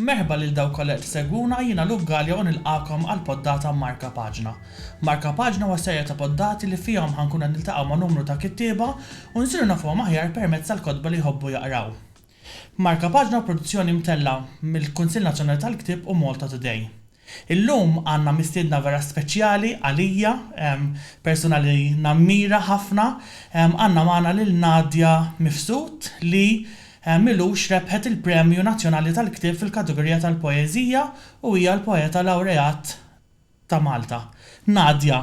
Merħba lil dawk kollha qed isegwuna, jiena Luke Galea u nilqagħkom għal poddata Marka Paġna. Marka Paġna huwa serje ta' poddati li fihom ħa nkunu qed niltaqgħu ma' numru ta' kittieba u nsiru nafuhom aħjar permezz tal-kotba li jħobbu jaqraw. Marka Paġna huwa produzzjoni mtellgħa mill-Kunsill Nazzjonali tal-Ktieb u Malta Today. Illum għandna mistiedna vera speċjali għalija, persuna li nammira ħafna. Għandna magħna lil Nadia Mifsud li m'ilux rebħet il-Premju Nazzjonali tal-Ktieb fil-kategorija tal-Poeżija u hija l-Poeta Lawreat ta' Malta. Nadia,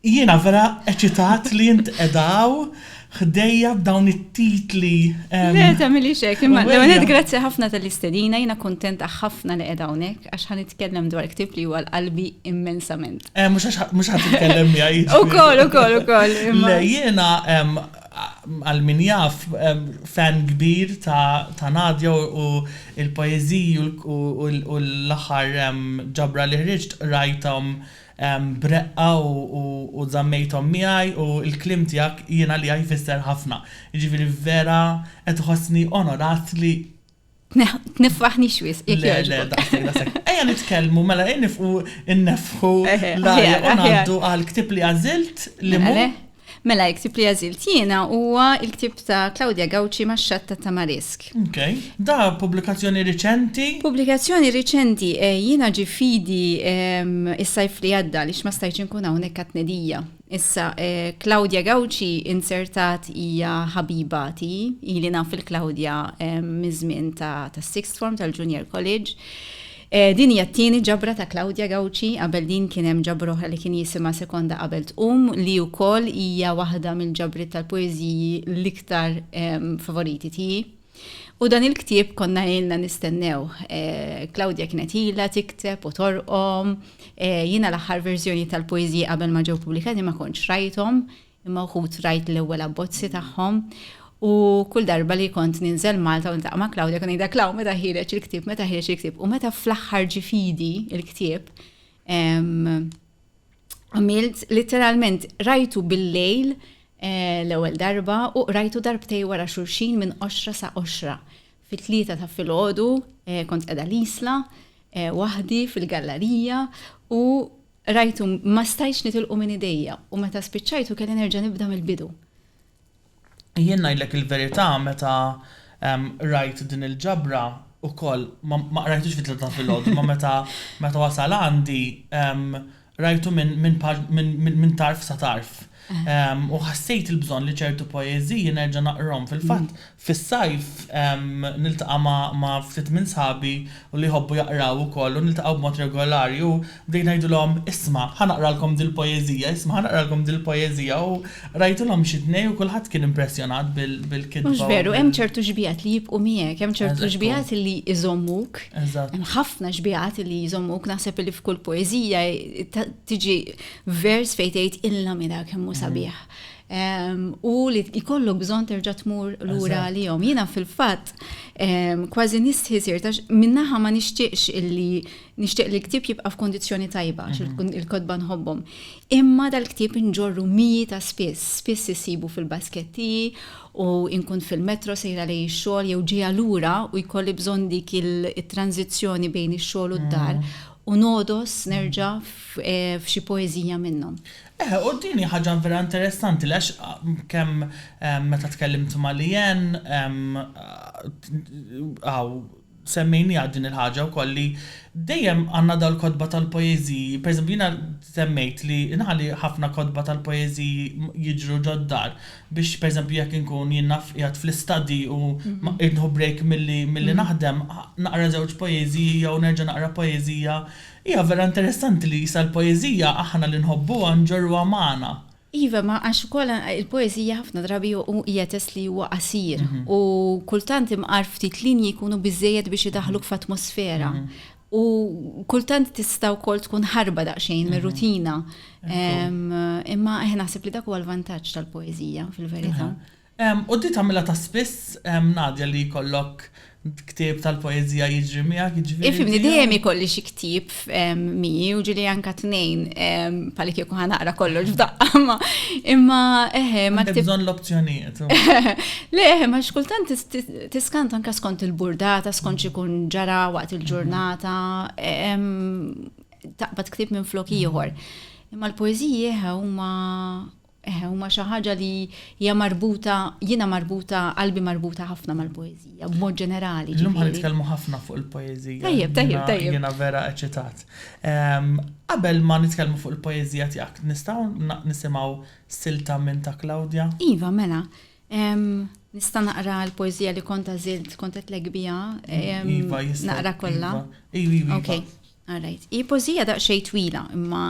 Jiena vera eċitat li int qiegħda hawn ħdejja b'dawn it-titli. Le, tagħmilix hekk, imma l-ewwel nett grazzi ħafna tal-istedina, jiena kuntenta ħafna li qiegħda hawnhekk għax ħa nitkellem dwar ktieb li huwa l-qalbi immensament. Mhux ħa titkellem miegħi. Ukoll, ukoll, ukoll. Le, jiena għal min jaf fan kbir ta' Nadia u l-poeżiji u l-aħħar ġabra li ħriġt qrajthom b'reqqa u żammejthom miegħi u l-kliem tiegħek jien għalija jfisser ħafna. Jiġifieri vera qed iħossni onorat li. Tniffaħnix wisq jekk jogħġbok. Le, le, daqshekk, daqshekk. Ejja nitkellmu mela ejja nifqu nneffħu l-ajr u ngħaddu għall-ktieb li għażilt li mhu. Mela, il-ktieb li għażilt jiena huwa l-ktieb ta' Claudia Gauci Max-Xatt ta' Tamarisk. Ok. Da pubblikazzjoni riċenti? Pubblikazzjoni riċenti, eh, jiena ġie f'idi ehm, is-sajf li għadda għaliex ma stajtx inkun hawnhekk għat-tnedija. Issa, eh, Claudia Gauci inzertat hija ħabiba ti, ili naf il-Claudia ehm, miż-żmien ta' tas-sixth form tal-Junior College. Din hija t-tieni ġabra ta' Claudia Gauci, qabel din kien hemm ġabra oħra li kien jisimha Sekonda Qabel Tqum li wkoll hija waħda mill-ġabriet tal-poeżiji l-iktar favoriti tiegħi. U dan il-ktieb konna ilna nistennew. Claudia kienet ilha tikteb u torqom. Jiena l-aħħar verżjoni tal-poeżiji qabel ma ġew pubblikati ma kontx rajthom. imma wħud rajt l-ewwel abbozzi tagħhom u kull darba li kont ninżel Malta u ntaqa' ma' Claudia kun ngħidha Klaw meta ħireġ il-ktieb, meta ħireġ il-ktieb u meta fl-aħħar ġifidi il-ktieb għamilt literalment rajtu bil-lejl eh, l-ewwel darba u rajtu darbtej wara xulxin minn qoxra sa qoxra. Fit-tlieta ta' filgħodu eh, kont qiegħda l-isla eh, waħdi fil-gallerija u Qrajtu, ma stajtx nitilqu minn idejja, u meta spiċċajtu kelli nerġa' nibda mill-bidu. Jien ngħidlek il-verità meta qrajt din il-ġabra ukoll, ma qrajtux fit-tlieta ta' filgħodu, imma meta meta wasal għandi qrajtu minn minn tarf sa tarf. U ħassejt il-bżonn li ċertu poeżiji nerġa' naqrhom. Fil-fatt, fis-sajf niltaqa' ma' ftit minn sħabi u li jħobbu jaqraw ukoll u niltaqgħu b'mod regolari u bdejt ngħidilhom, isma', ħa naqralkom dil-poeżija, isma' ħa naqralkom dil-poeżija u qrajtilhom xi tnej u kulħadd kien impressjonat bil-kitba. Mhux veru, hemm ċertu xbiehat li jibqgħu miegħek, hemm ċertu xbiehat li jżommuk. Eżatt. Hemm ħafna xbiehat li jżommuk, naħseb li f'kull poeżija tiġi vers fejn tgħid il-lamida kemm hu sabiħ. Ehm, u li jkollok bżonn terġa' tmur lura għalihom. Jiena fil-fatt ehm, kważi nistħi sir tax minnaħa ma nixtieqx illi nixtieq li l-ktieb jibqa' f'kondizzjoni tajba għax mhm. il-kodba nħobbhom. Imma dal-ktieb inġorru miji ta' spiss, spiss isibu fil-basketti u inkun fil-metro sejra li x-xogħol jew ġejja lura u jkolli bżonn dik il-tranzizzjoni bejn ix-xogħol u d-dar mhm. u nogħdos nerġa' f'xi poeżija minnhom. Eħe, u din hi ħaġa vera interessanti għax kemm meta tkellimt ma' Leanne hawn semmejniha din il-ħaġa wkoll li dejjem għandna dal-kotba tal-poeżiji, pereżempju jiena semmejt li inħalli ħafna kotba tal-poeżiji jiġru ġod-dar, biex pereżempju jekk inkun jien naf qiegħed fl-istuddy u ma irrid nieħu break milli milli naħdem, naqra żewġ poeżiji jew nerġa' naqra poeżija. Hija vera interessanti li sa l-poeżija aħna li nħobbuha nġorruha magħna. Iva, ma għax ukoll il-poeżija ħafna drabi hu hija test li huwa qasir u kultant imqar ftit linji jkunu biżżejjed biex idaħħluk f'atmosfera. U kultant tista' wkoll tkun ħarba daqsxejn mir-rutina. Imma eħ naħseb li dak huwa l-vantaġġ tal-poeżija fil-verità. U di tagħmilha ta' spiss Nadja li jkollok ktieb tal-poeżija jiġri miegħek jiġri. Ifimni dejjem ikolli xi ktieb miegħi u ġieli anke tnejn bħal kieku ħa naqra kollox f'daqqa imma eħe ma. Għandek bżonn l-opzjonijiet. Le eħe ma xkultant Tiskant anke skont il-burdata, skont x'ikun ġara waqt il-ġurnata, taqbad ktib minn flok ieħor. Imma l-poeżiji huma Eh, huma xi ħaġa li hija marbuta, jiena marbuta, qalbi marbuta ħafna mal-poeżija, b'mod ġenerali. Illum ħan nitkellmu ħafna fuq il-poeżija. Tajjeb, tajjeb, tajjeb. Jiena vera eċitat. Ehm, qabel ma nitkellmu fuq il-poeżija tiegħek, nistgħu nisimgħu silta minn ta' Claudia? Iva, mela. Nista' naqra l-poeżija li kont għażilt, kont qedtlek biha. Iva, jista' naqra kollha. Iva, iva. Ok, all right. Hi poeżija daqsxejn twila, imma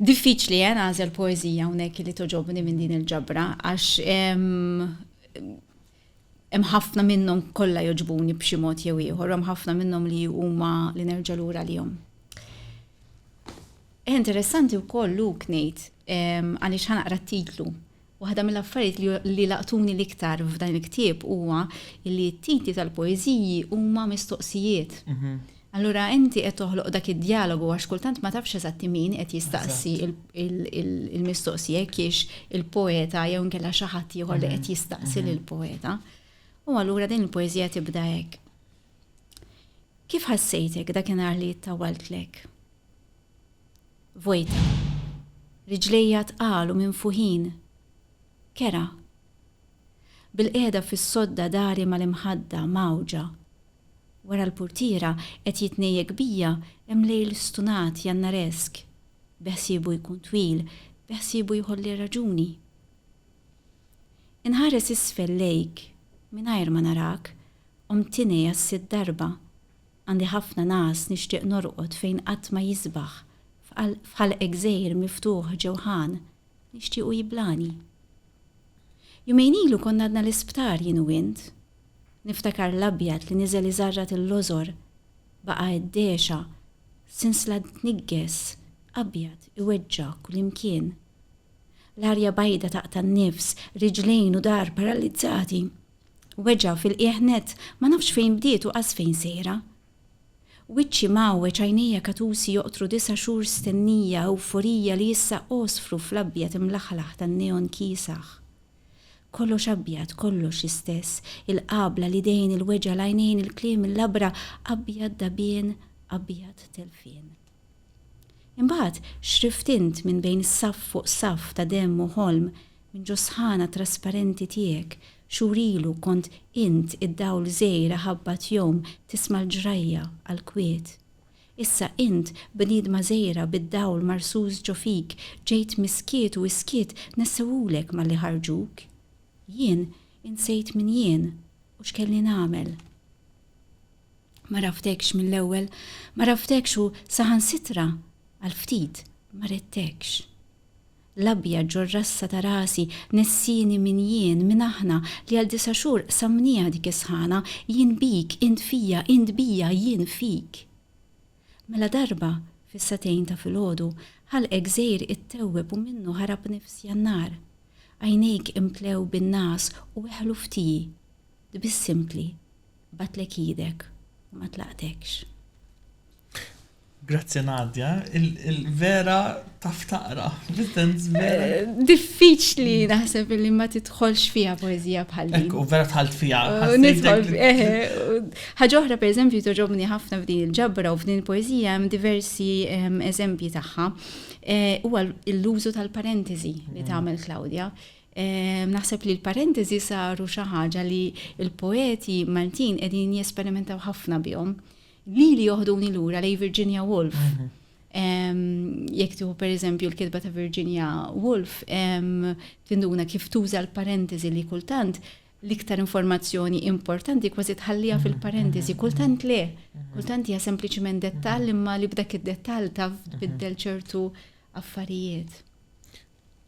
diffiċli eh nagħżel poeżija hawnhekk li toġobni minn din il-ġabra għax hemm ħafna minnhom kollha jogħġbuni b'xi mod jew ieħor, hemm ħafna minnhom li huma li nerġa' lura għalihom. Interessanti wkoll Luk ngħid għaliex ħanaqra t-titlu Waħda mill-affarijiet li laqtuni l-iktar f'dan il-ktieb huwa li t-titli tal-poeżiji huma mistoqsijiet. Allura inti qed toħloq dak id-djalogu għax kultant ma tafx eżatti min qed jistaqsi il-mistoqsija jekk hiex il-poeta jew inkella xi ħadd ieħor li qed jistaqsi lill-poeta. U allura din il-poeżija tibda hekk. Kif ħassejtek dakinhar li ttawwaltlek? Vojta. Riġlejja tqal u minfuħin. Kerha. Bilqiegħda fis-sodda dari mal-imħadda, mgħawġa. Wara l-purtiera, qed jitnejjek bija, hemm lejl stunat, jannaresk. Beħsiebu jkun twil, beħsiebu jħolli r-raġuni. Inħares isfel lejk, mingħajr ma narak, qomt tinei għas-sitt darba. Għandi ħafna ngħas nixtieq norqod fejn qatt ma jisbaħ f'qal f'ħalq gżejjer miftuħ ġewħan nixtiequ jiblani. Jumejn ilu konna għadna l-isptar jien u int. Niftakar l-abjad li niżel iżarrat il-lożor baqa' għeddegħxa sinsla tniggess abjad iweġġa' kullimkien. L-arja bajda taqta' n-nifs, riġlejn u dahar paralizzati. Weġgħa fil-qiegħ nett, ma nafx fejn bdiet u qas fejn sejra. Wiċċi mgħawweġ, għajnejja katusi joqtru disa' xhur stennija, ewforija li issa għosfru fl-abjad imlaħlaħ tan-neon kiesaħ. Kollox abjad, kollox l-istess, il-qabla, l-idejn, il-weġgħa, l-għajnejn, il-kliem, il-labra, abjad dagħbien, abjad telfien. Imbagħad x'rift int minn bejn saff fuq saff ta' demm u ħolm, minn ġo s-sħana trasparenti tiegħek, xhur ilu kont int id-dawl żgħir aħabbat jom tisma' l-ġrajja għall-kwiet. Issa int bniedma żgħira bid-dawl marsus ġo fik ġejt mis-skiet u s-skiet nessewhulek malli ħarġuk. Jien insejt min jien u x'kelli nagħmel. Ma rafdekx mill-ewwel, ma rafdekx u saħansitra għal ftit ma ridtekx. L-abjad ġor-rassa ta' rasi nessini min jien, min aħna li għal disa' xhur qsamnieha dik is-sħana, jien bik, int fija, int bija, jien fik. Mela darba, fis-sagħtejn ta' filgħodu, ħalqek żgħir ittewweb u minnu ħarab nifs Jannar. Għajnejk imtlew bin-ngħas u weħlu f'tiji. Tbissimtli. Bagħtlek idek u ma tlaqtekx. Grazzi Nadja, il-vera taf taqra, l-intens vera. Eh, diffiċli naħseb li ma titħolx fija poezija bħal din. U vera tħalt fija. Eh, eh, ħaġa oħra per eżempju toġobni ħafna f'din il-ġabra u f'din il-poezija hemm diversi ehm, eżempji tagħha. Huwa l-użu tal-parentesi li mm. tagħmel Claudia. Naħseb li l-parentesi saru xi ħaġa li l-poeti Maltin qegħdin jesperimentaw ħafna bihom. Lili joħduni lura lej Virginia Woolf. Mhm. Jekk tieħu pereżempju l-kitba ta' Virginia Woolf, tinduna kif tuża l-parentesi li kultant l-iktar informazzjoni importanti kważi tħallija mhm. fil-parentesi, mhm. kultant le, kultant hija sempliċiment dettall imma li b'dak id-dettall taf biddel ċertu affarijiet.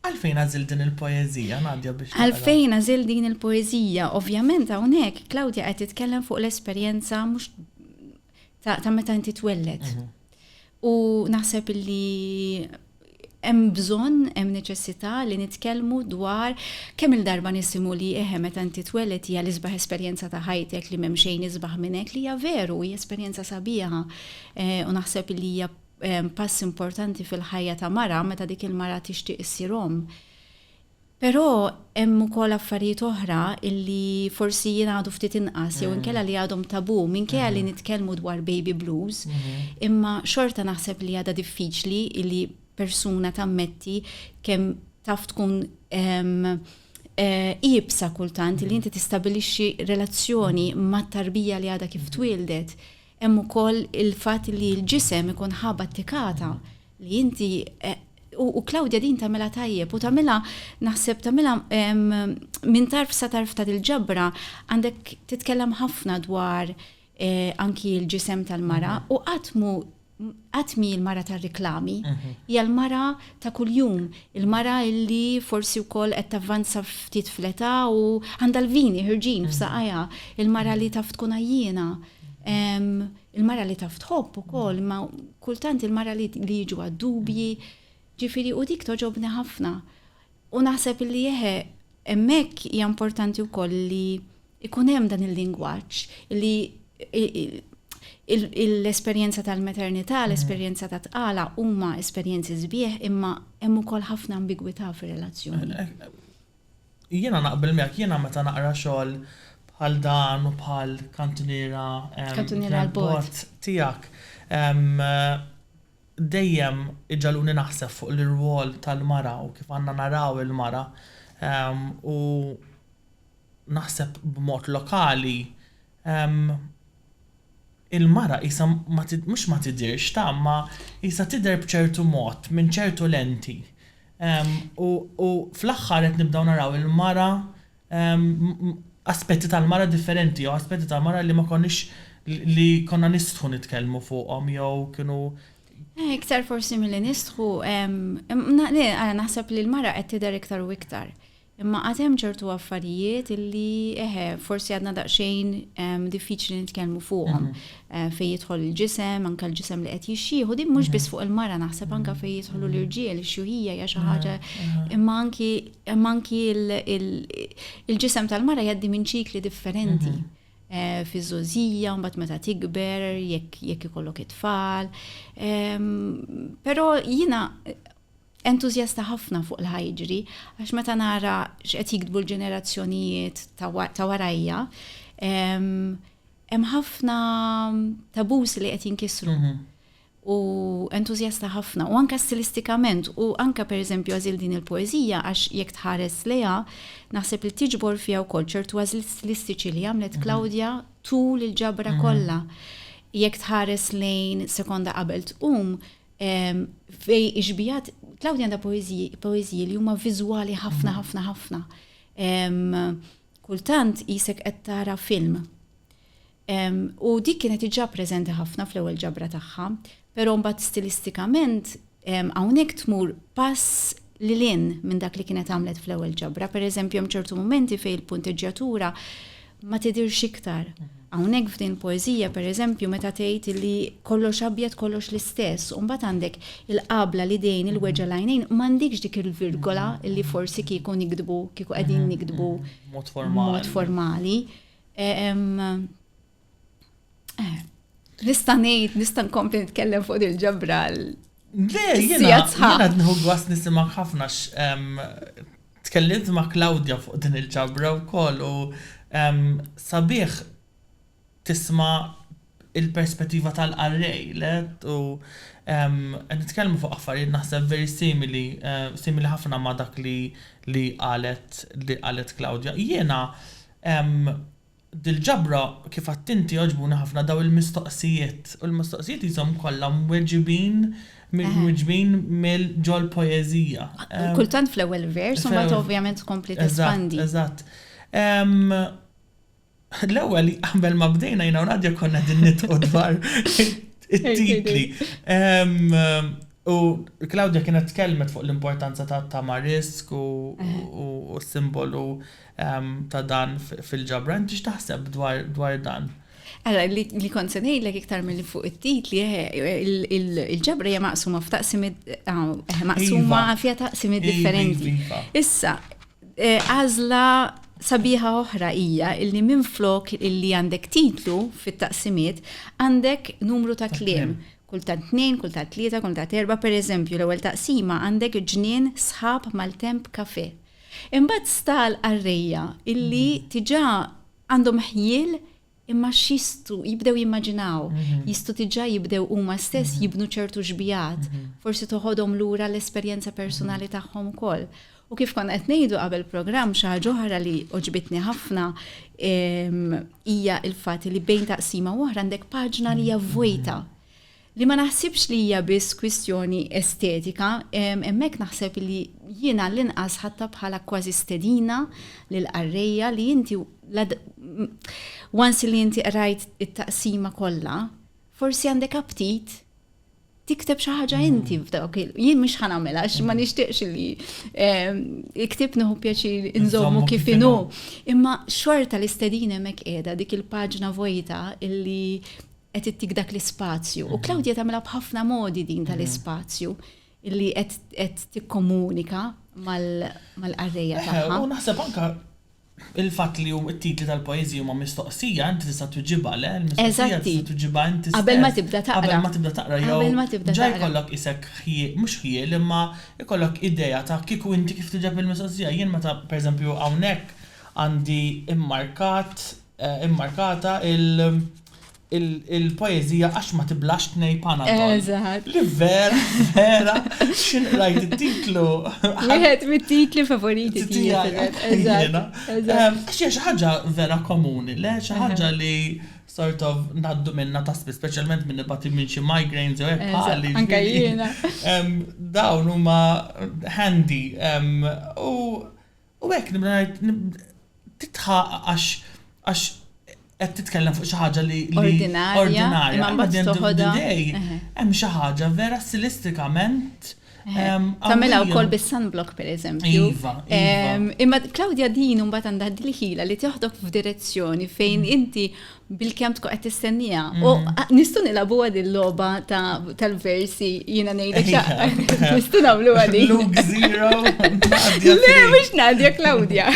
Għalfejn għażilt din il-poeżija, Nadia, biex taqra? Għalfejn għażilt din il-poeżija? Ovvjament hawnhekk Claudia qed titkellem fuq l-esperjenza mhux ta' meta inti twelled. Mhm. U naħseb li hemm bżonn, hemm neċessità li nitkellmu dwar kemm il-darba nisimgħu li eħe meta inti tweled hija l-isbaħ esperjenza ta' ħajtek li m'hemm xejn isbaħ minn hekk li hija veru, hija esperjenza sabiħa eh, u naħseb li hija pass importanti fil-ħajja ta' mara meta dik il-mara tixtieq issir omm. Però hemm ukoll affarijiet oħra illi forsi jingħadu ftit inqas jew inkella li għadhom tabu minkejja li nitkellmu dwar baby blues, imma xorta naħseb li għadha diffiċli illi persuna tammetti kemm taf tkun iebsa kultant li inti tistabilixxi relazzjoni mat-tarbija li għadha kif twieldet. Hemm ukoll il-fatt li l-ġisem ikun ħa battikata li inti u Claudia din tagħmilha tajjeb u tagħmilha naħseb tagħmilha minn tarf sa tarf ta' dil-ġabra għandek titkellem ħafna dwar eh, anki l-ġisem tal-mara mhm. u qatt mu għatmi il-mara ta' reklami, mhm. hija l-mara ta' kuljum, il-mara illi forsi u koll qed tavvanza ftit fleta u għandha l-vini ħirġin mhm. f'saqajja, il-mara li taf tkun għajjina, il-mara li taf tħobb ukoll, ma kultant il-mara li jiġu għad-dubji, ġifiri u dik toġobni ħafna. U naħseb li jeħe, emmek hija importanti wkoll li ikun hemm dan il-lingwaġġ li l-esperjenza tal-maternità, mm. l-esperjenza ta' tqala huma esperjenzi sbieħ imma hemm ukoll ħafna ambigwità fir-relazzjoni. Eh, eh, Jiena naqbel miegħek, jiena meta naqra xogħol bħal dan u bħal kantuniera l-bogħod tiegħek dejjem iġagħluni naħseb fuq l-irwol tal-mara u kif għandna naraw il-mara u naħseb b'mod lokali il-mara qisha ma mhux ma tidhirx tagħam ma qisha tidher b'ċertu mod minn ċertu lenti u u fl-aħħar qed nibdew naraw il-mara aspetti tal-mara differenti jew aspetti tal-mara li ma konniex li konna nistħu nitkellmu fuqhom jew kienu Iktar forsi milli nistħu naħseb li l-mara qed tidher iktar u iktar. Imma għad hemm ċertu affarijiet illi, eħe, forsi għadna daqsxejn diffiċli nitkellmu fuqhom. Fejn jidħol il-ġisem, anke l-ġisem li qed jixxieh, u din mhux biss fuq il-mara naħseb anke fejn jidħlu l-irġiel, ix-xjuħija hija xi ħaġa, imma anki imma anki l-ġisem tal-mara jgħaddi minn ċikli differenti fiż-żgħożija, mbagħad meta tikber, jekk jekk ikollok it-tfal. Però jiena entużjasta ħafna fuq l-ħa jiġri għax meta nara x'qed jiktbu l-ġenerazzjonijiet ta' warajja, hemm ħafna tabus li qed jinkisru. Mhm. U entużjasta ħafna, u anka stilistikament, u anka per eżempju għazil din il-poezija, għax jekk tħares leja, naħseb li tiġbor fija u kol ċertu għazil stilistiċi li għamlet Klaudja mhm. tul il-ġabra mhm. kollha. Jekk tħares lejn sekonda qabel tqum, Fej ixbijat, Claudia għandha poeżiji li huma viżwali ħafna ħafna ħafna. Kultant jisek qed tara film. U dik kienet iġa preżenti ħafna fl-ewwel ġabra tagħha, però mbagħad stilistikament hawnhekk tmur pass lil hinn minn dak li kienet għamlet fl-ewwel ġabra. Pereżempju hemm ċertu mumenti fejn il-punteġġjatura ma tidhirx iktar. Hawnhekk f'din il-poeżija pereżempju meta tgħid li kollox abjad kollox l-istess, u mbagħad għandek il-qabla l-idejn il-weġgħa l-għajnejn m'għandikx dik il-virgola li forsi kieku nikdbu kieku qegħdin nikdbu mod formali. Eh, nista' ngħid, nista' nkompli nitkellem fuq il-ġabra Jena, jena nħu għas nisimak ħafna tkellimt ma' Claudia fuq din il-ġabra u koll u sabiħ tisma il-perspettiva tal-arrej let u nitkellmu fuq affarijiet naħseb veri simili, simili ħafna ma' dak li li qalet li qalet Claudia. Jena Dil-ġabra kif għadt inti għoġbuni ħafna dawn il-mistoqsijiet u l-mistoqsijiet qishom kollha mweġibin mweġbin mill ġol poeżija. Kultant fl-ewwel vers u mbagħad ovvjament tkompli tespandi. Eżatt, eżatt. L-ewwel qabel ma bdejna jiena u Nadia konna qegħdin nidħku dwar it-titli. U Claudia kienet tkellmet fuq l-importanza ta' Tamarisk u s-simbolu ta' dan fil-ġabra. Inti x'taħseb dwar dan? Ara, li kont se ngħidlek iktar milli fuq it-titli, il-ġabra hija maqsuma f'taqsimiet maqsuma iva. fiha taqsimiet iva, differenti. Iva. Issa, e, għażla sabiħa oħra hija illi minn flok illi għandek titlu fit-taqsimiet għandek numru ta' kliem. Kull ta' tnejn, kull ta' tlieta, kull ta' erba, per eżempju, l-ewwel taqsima għandek ġnien sħab mal-temp kafe. Imbagħad sta għall-qarrejja illi diġà għandhom ħjiel imma x'jistgħu jibdew jimmaġinaw, jistgħu diġà jibdew huma stess jibnu ċertu xbigħat, forsi toħodhom lura l-esperjenza persunali tagħhom ukoll. U kif konna qed ngħidu qabel programm xi ħaġa oħra li għoġbitni ħafna hija l-fatt li bejn taqsima u oħra għandek paġna li hija vojta. li ma naħsibx li hija biss kwistjoni estetika, hemmhekk naħseb li jien għall-inqas ħadtha bħala kważi stedina lill-qarrejja li inti once li inti qrajt it-taqsima kollha, forsi għandek aptit tikteb xi ħaġa mm. inti f'dawk il jien mhux ħa nagħmel għax ma mm. nixtieqx li ehm, iktib nieħu pjaċir inżommu kif inhu. Imma xorta l-istedin hemmhekk qiegħda dik il-paġna vojta illi qed ittik dak l-ispazju. U Claudia tagħmilha b'ħafna modi din tal-ispazju li qed tikkomunika mal-qarrejja eh, tagħha. U naħseb anka il-fatt li hum it-titli tal-poeżija huma mistoqsija, inti tista' tuġibha le, mistoqsija tista' tuġibha inti Qabel ma tibda taqra. Qabel ma tibda taqra jew. Qabel ma tibda taqra. Ġa jkollok isek mhux ħjiel imma jkollok idea ta' kieku inti kif tuġeb il-mistoqsija. Jien meta pereżempju hawnhekk għandi immarkat immarkata il-poeżija Għax ma tiblax tnej Panadol. Eżatt. Li vera, vera, x'inhi rajt it-titlu. Wieħed mit-titli favoriti tiegħi. Eżatt. Għax hija xi ħaġa vera komuni, le xi ħaġa li sort of naddu minna ta' spiss, speċjalment minn nibati minn xi migraines jew hekk bħali. Anke jiena. Dawn huma handy u U hekk nibda ngħid titħaq għax għax qed titkellem fuq xi ħaġa li ordinarja, ordinarja imma mbagħad toħodha hemm xi ħaġa vera stilistikament Tamela u kol bis-sunblock per eżempju. Iva, iva. Imma Claudia din un batan daħdil ħila li teħdok f'direzzjoni fejn mm. inti bil-kemm tkun qed tistenniha. U nistgħu nilagħbuha din logħba tal-versi jiena ngħidlek xa. Nistgħu nagħmlu għadi. Luke zero. Le mhux Nadja Claudia.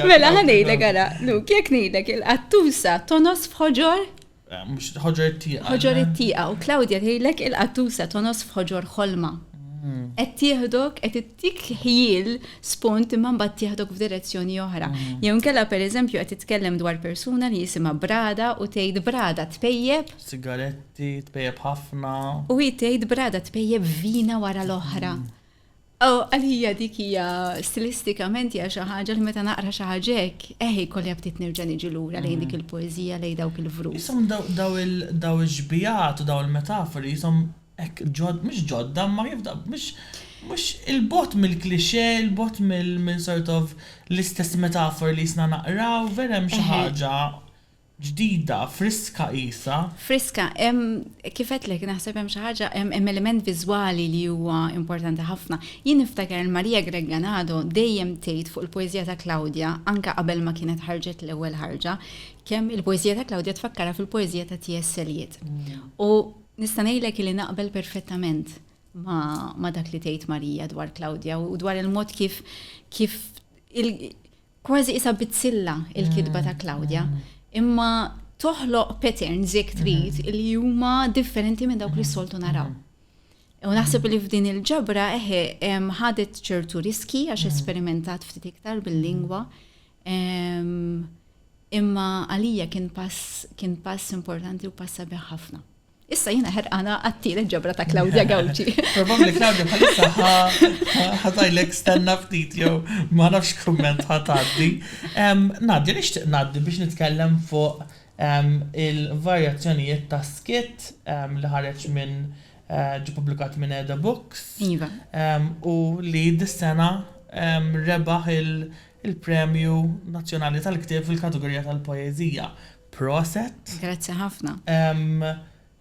Mela ħanejlek ara, Luke, jekk ngħidlek il-qattusa tonos f'ħoġor? Eh, mhux ħoġor it-tieqa. Ħoġor it-tieqa u Claudia tgħidlek il-qattusa tonos f'ħoġor ħolma. Mm. Qed tieħdok qed Dik ħjiel spunt imma mbagħad tieħdok f'direzzjoni oħra. Jew inkella pereżempju qed titkellem dwar persuna li jisimha Brada u tgħid Brada tpejjep. Sigaretti, tpejjep ħafna. U hi tgħid Brada tpejjep vina wara l-oħra. U għalija dik hija stilistikament hija xi ħaġa li meta naqra xi ħaġa hekk, eħ jkolli ftit nerġa' niġi lura lejn dik il-poeżija, lejn dawk il-vrus. Jisom daw il-xbijat u daw il-metafori jisom Hekk, ġod, mhux ġodda, imma kif da, mhux, mhux il-bogħod mill-cliché, il-bogħod mill, minn sort of l-istess metafori li jisna naqraw, vera hemm xi ħaġa ġdida, friska qisha. Friska, hemm, kif għedtlek, naħseb hemm xi ħaġa, hemm element viżwali li huwa importanti ħafna. Jien niftakar il Maria Gregganado dejjem tgħid fuq il-poeżija ta' Claudia, anke qabel ma kienet ħarġet l-ewwel ħarġa, kemm il-poeżija ta' Claudia tfakkarha fil-poeżija ta' T.S. Eliot. U Nista' ngħidlek li naqbel perfettament ma' dak li tgħid Marija dwar Claudia u dwar il-mod kif kif kważi isa bizzilla il-kitba ta' Claudia. Imma toħloq patterns jekk trid li huma differenti minn dawk li soltu naraw. U naħseb li f'din il-ġabra eħe ħadet ċertu riski għax esperimentat ftit iktar bil-lingwa, Imma għalija kien pass kien pass importanti u pass sabiħ ħafna. Issa jina ħerqana għattielet ġabra ta' Claudia Gawċi. Probabli Claudia bħalissa ħatajlek stanna ftit jew ma nafx kumment ħataddi. Nadja nixtieq naddi biex nitkellem fuq il-varjazzjonijiet ta' skit li ħareġ minn eh, ġi publikat minn Eda Books. Iva. U li dis-sena rebaħ il- il-Premju Nazzjonali tal-Ktieb fil-kategorija tal-Poeżija. Proset! Grazzi ħafna. Ehm,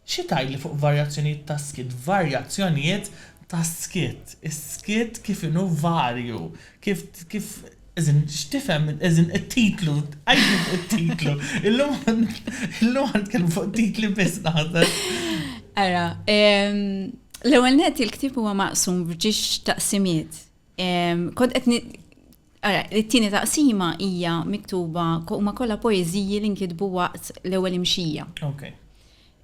xi tgħidli fuq varjazzjonijiet tas-skiet? Varjazzjonijiet tas-skiet. Is-skiet kif inhu varju. Kif, kif, as in, x'tifhem, as in, it-titlu, għajdu fuq it-titlu. Illum, illum għan tkellmu fuq titli biss naħseb. Ara, ehm, l-ewwel net il-ktieb huwa maqsum f'ġiex taqsimiet. Kont qed Ara, it-tieni taqsima hija miktuba huma kollha poeżiji li nkitbu waqt l-ewwel imxija. Okay.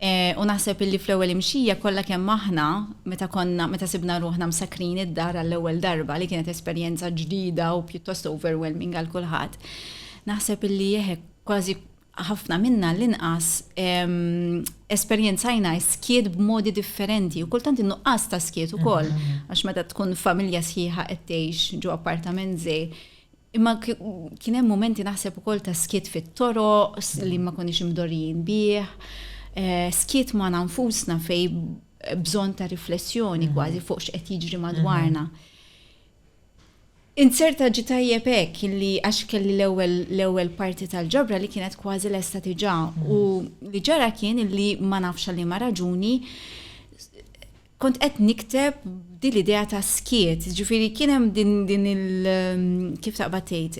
Eh, u naħseb illi fl-ewwel imxija kollha kemm aħna meta konna meta sibna ruħna msakrin id-dar għall-ewwel darba li kienet esperjenza ġdida u pjuttost overwhelming għal kulħadd. Naħseb illi jeħek kważi ħafna minna għall-inqas, esperjenzajna s-skiet b'modi differenti u kultant in-nuqqas ta' skiet ukoll, għax meta tkun familja sħiħa qed tgħix ġo appartament żgħir. Imma kien hemm mumenti naħseb ukoll ta' skiet fit-toroq li ma konniex imdorrijin bih, skiet magħna nfusna fejn bżonn ta' riflessjoni kważi fuq x'qed jiġri madwarna. Inzerta ġie tajjeb hekk li għax kelli l-ewwel l-ewwel parti tal-ġabra li kienet kważi lesta diġà u li ġara kien li ma nafx għal liema raġuni kont qed nikteb din l-idea ta' skiet, ġifieri kien hemm din il kif taqbad tgħid,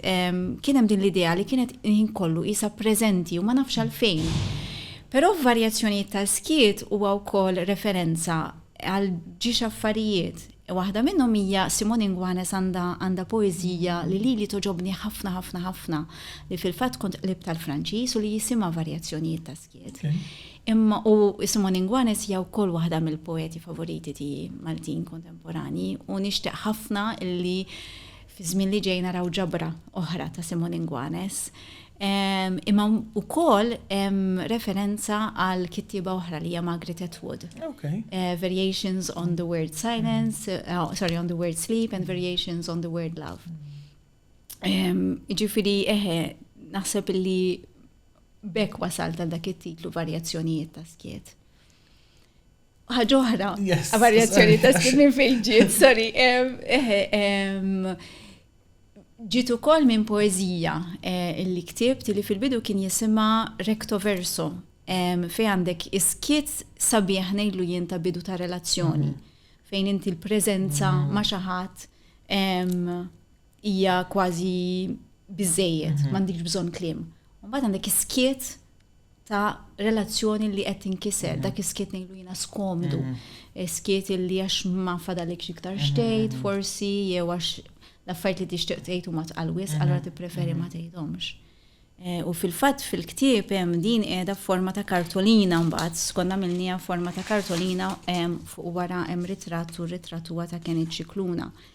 kien hemm din l-idea li kienet il-ħin kollu qisha preżenti u ma nafx għalfejn. Però f'varjazzjonijiet ta' skiet huwa wkoll referenza għal ġiex affarijiet. Waħda minnhom hija Simone Ingwanes għandha għandha poeżija li lili toġobni ħafna ħafna ħafna li fil-fatt kont qlib tal-Franċiż u li jisimha varjazzjonijiet ta' skiet. Imma u Simone Ingwanes hija wkoll waħda mill-poeti favoriti tiegħi Maltin kontemporani u nixtieq ħafna li fiż-żmien li ġej naraw ġabra oħra ta' Simon Ingwanes, imma wkoll hemm referenza għal kittieba oħra li hija Margaret Atwood. Okay. Eh, variations on the word silence, eh, oh, sorry, on the word sleep and variations on the word love. Ġifiri, eħe, naħseb li bekk wasal ta' dak it-titlu varjazzjonijiet ta' skiet. ħaġa oħra, varjazzjoni ta' stil minn fejn ġiet, sorry. Ġiet ukoll minn poeżija eh, li ktibt li fil-bidu kien jisimha recto verso fej għandek iskiet sabiħ nejlu jien ta' bidu ta' relazzjoni mhm. fejn inti l-prezenza mhm. ma' xaħat Hija kważi biżejjed, mhm. m'għandix bżonn kliem. U mbagħad għandek iskiet ta' relazzjoni li qed tinkiser, mhm. dak iskiet ngħidu jiena skomdu, mhm. skiet li għax ma fadalik iktar xtejt, forsi jew għax l-affarijiet li tixtieq tgħid huma tqal wisq, allura tippreferi ma tgħidhomx. Eh, u fil-fatt fil-ktieb hemm din qiegħda forma ta' kartolina mbagħad skonna minnija forma ta' kartolina fuq wara hemm ritratt u ritratt huwa ta' Kenny Ċikluna. Ċikluna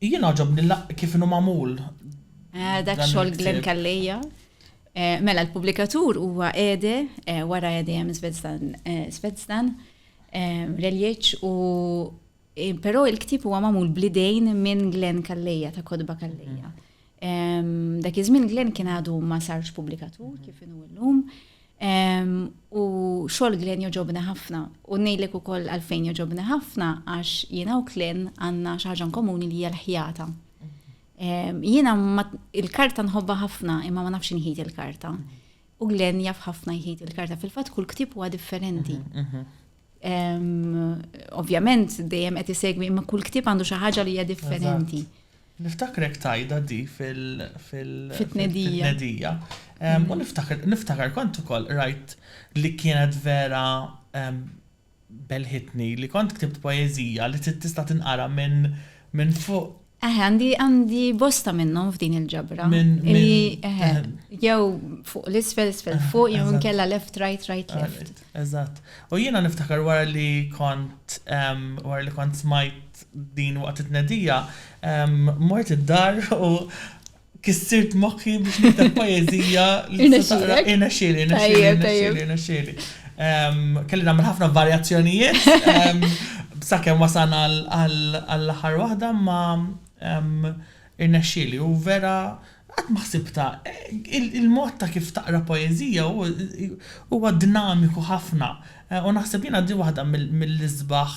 Jien għoġobni kif inhu magħmul. Eh, dak xogħol Glenn Kalleja. Eh, mela l-pubblikatur huwa Ede, eh, wara Ede hemm Svedzdan, Reljeċ u però il-ktib huwa magħmul blidejn minn Glenn Kalleja ta' Kodba Kalleja. Dak iż-żmien Glenn kien għadu ma sarx pubblikatur kif inhu llum. U xogħol Glenn joġobna ħafna u ngħidlek ukoll għalfejn joġobna ħafna għax jiena u Glenn għandna xi ħaġa komuni li hija l-ħjata. Jiena il-karta nħobba ħafna imma ma nafx inħid il-karta. U Glenn jaf ħafna jħid il-karta fil-fatt kull ktib huwa differenti. Ovvjament dejjem qed isegwi imma kull ktib għandu xi ħaġa li hija differenti. Niftakrek tgħidha di fil-tnedija. U niftakar kont ukoll qrajt li kienet vera belħitni li kont ktibt poeżija li tista' tinqara minn fuq. Eħe, għandi bosta minnhom f'din il-ġabra. Jew fuq l-isfel, isfel fuq, jew inkella left, right, right, left. Eżatt. U jiena niftakar wara li kont wara li kont smajt din waqt it-tnedija, mort id-dar u kissirt moħħi biex nikteb poeżija li tista' taqra. Irnexxieli, irnexxieli, irnexxieli, irnexxieli. Kelli nagħmel ħafna varjazzjonijiet sakemm wasalna għall-aħħar waħda, imma Irnexxieli u vera qatt ma ħsibtha. Il-mod ta' kif taqra poeżija huwa dinamiku ħafna u naħseb jiena di waħda mill-isbaħ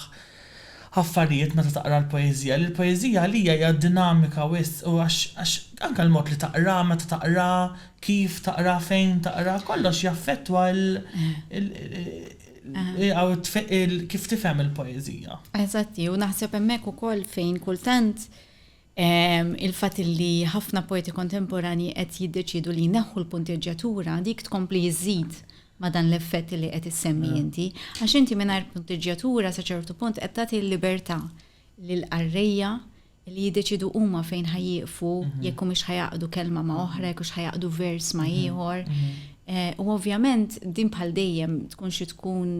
affarijiet meta taqra l-poeżija li l-poeżija għalija hija dinamika wisq u għax għax anke l-mod li taqraha, meta taqraha, kif taqraha, fejn taqraha, kollox jaffettwa l kif tifhem il-poeżija. Eżatti, u naħseb hemmhekk ukoll fejn kultant Il-fatt li ħafna poeti kontemporanji qed jiddeċiedu li jneħħu l-punteġġjatura dik tkompli żżid ma' dan l-effett li qed issemmi inti. Għax inti mingħajr punteġġjatura sa ċertu punt qed tagħti l-libertà lill-qarrejja li jiddeċiedu huma fejn ħa jieqfu, jekk humiex ħa jgħaqqdu kelma ma' oħra, jekk hux ħa jgħaqqdu vers ma' ieħor. U ovvjament din bħal dejjem tkun xi tkun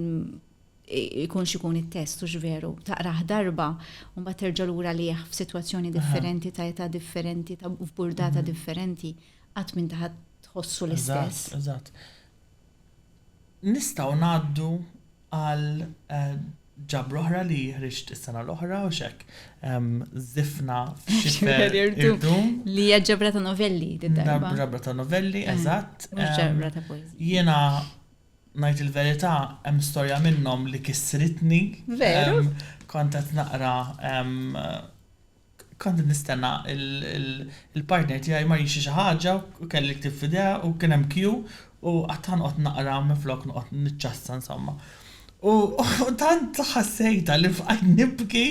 ikun x'ikun it-test hux veru, taqrah darba u mbagħad terġa' lura lih f'sitwazzjoni differenti ta' età differenti ta' f'burdata differenti qatt m'inti ħa tħossu l-istess. Eżatt, eżatt. Nistgħu ngħaddu għal ġabra oħra li ħriġt is-sena l-oħra u x'hekk żifna f'xifer irdum. Li hija ġabra ta' novelli din darba. Ġabra ta' novelli, eżatt. Mhux ġabra ta' poeżija. Jiena ngħid il-verità hemm storja minnhom li kissritni. Veru? Kont qed naqra kont qed nistenna il-partner tiegħi mar jixtri xi ħaġa u kelli l-ktieb f'idejha u kien hemm queue u qgħadt ħa noqgħod naqra minflok noqgħod niċċassa insomma. U tant ħassejtha li bqajt nibki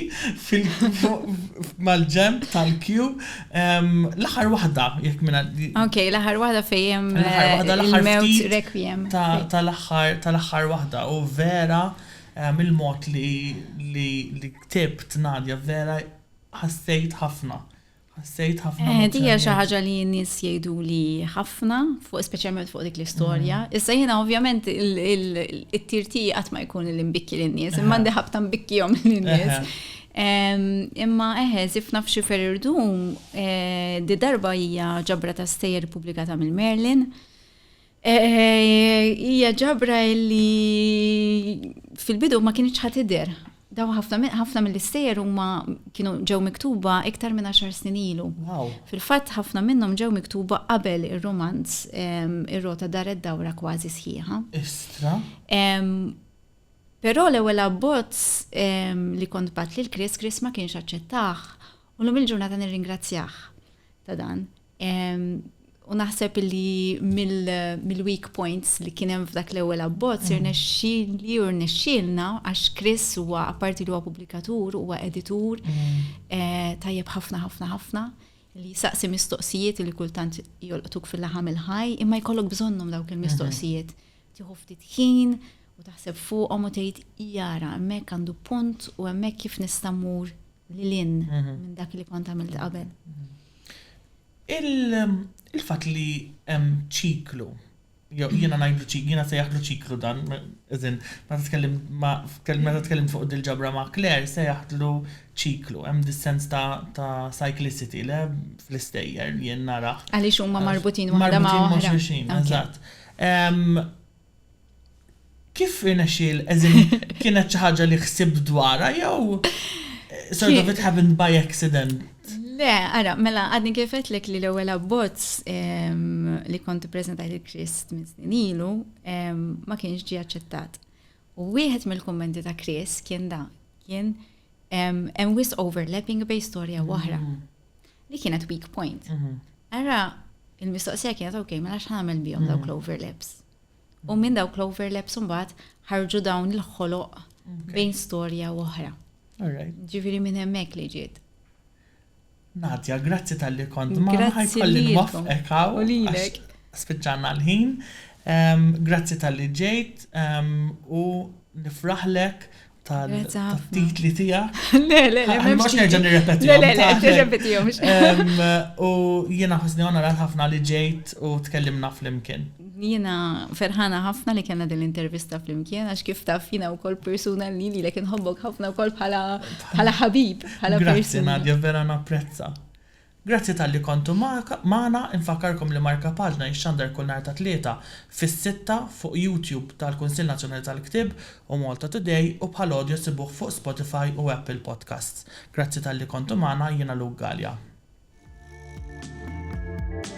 mal-ġenb tal-queue. L-aħħar waħda, jekk minn. Ok, l-aħħar waħda fejn il-mewt requiem. Tal-aħħar waħda u vera mill-mod li ktibt Nadia vera ħassejt ħafna Ħassejt ħafna emozzjonijiet. Din hija xi ħaġa li n-nies jgħiduli ħafna, speċjalment fuq dik l-istorja. Mm. Issa jiena ovvjament it-tirti qatt ma jkun li nbikki lin-nies, imma għandi ħabta nbikkihom lin-nies. Imma eħe, zifna f'xi ferirdum, eh, di darba hija ġabra ta' stejjer publikata mill-Merlin. Hija ġabra li fil-bidu ma kienx ħadd idher. Daw ħafna mill-istejjer huma kienu ġew miktuba iktar minn għaxar snin ilu. Fil-fatt ħafna minnhom ġew miktuba qabel ir-rumanz Ir-Rota Daret Dawra kważi sħiħa. Istra! Però l-ewwel abbozz li kont bgħadt lil Chris, Chris ma kienx aċċettah u llum il-ġurnata nirringrazzjah ta' dan. U naħseb li mill-weak points li kien hemm f'dak l-ewwel abbozz mm. irnexxieli u rnexxielna għax Chris huwa apparti li huwa pubblikatur huwa editur mm. eh, tajjeb ħafna ħafna ħafna li saqsi mistoqsijiet li kultant jolqtuk fil-laħam il-ħaj imma jkollok bżonnhom dawk il-mistoqsijiet. Mm-hmm. Tieħu ftit ħin u taħseb fuqhom u tgħid jara hemmhekk għandu punt u hemmhekk kif nista' mmur lil hinn minn dak li kont għamilt qabel. Il-fatt li hemm ċiklu, jew jiena ngħidlu ċiklu, jiena nsejjaħlu ċiklu dan, as in, meta tkellim ma' meta tkellimt fuq dil-ġabra ma' Claire sejjaħtlu ċiklu, hemm dis-sens ta' cyclicity le fl-istejjer jien narah. Għaliex huma marbutin waħda ma' oħra. Marbutin ma' xulxin, eżatt. Kif irnexxielek, as in kienet xi ħaġa li ħsibt dwarha jew sort of it happened by accident? Le, ara, mela għadni kif għedtlek li l-ewwel abbozz li kont ippreżentajt il-Krist minn snin ilu ma kienx ġie aċċettat. U wieħed mill-kummenti ta' Chris kien da, kien hemm wis overlapping bej storja waħra. Mm. Li kienet weak point. Mhm. Ara, il-mistoqsija kienet ok, mela xħan għamil bihom mhm. dawk l-overlaps. U mhm. minn dawk l-overlaps mbagħad ħarġu dawn il-ħoloq bejn storja u oħra. Ġifieri minn hemmhekk li ġiet. Nadja, grazzi tal-li kont ma ħajkolli nwafqek u lilek. Spiċċanna l-ħin. Grazzi tal-li ġejt u nifraħlek tal-titli tija. Le, le, le, le, mux nerġa nirrepeti. Le, le, le, nirrepeti jom. U jena ħusni għona rat ħafna li ġejt u tkellimna fl-imkien. Jena ferħana ħafna li kena din l-intervista fl-imkien, għax kif taf jena u kol persuna li li lekin hobbok ħafna u kol bħala ħabib, bħala persuna. Grazie, Nadja, vera napprezza. Grazzi talli kontu magħna, infakkarkom li Marka Paġna jixxandar kull nhar ta' Tlieta fis-sitta fuq YouTube tal-Kunsill Nazzjonali tal-Ktieb u Malta Today u bħal audio ssibuh fuq Spotify u Apple Podcasts. Grazzi talli kontu magħna, jiena Luke Galea.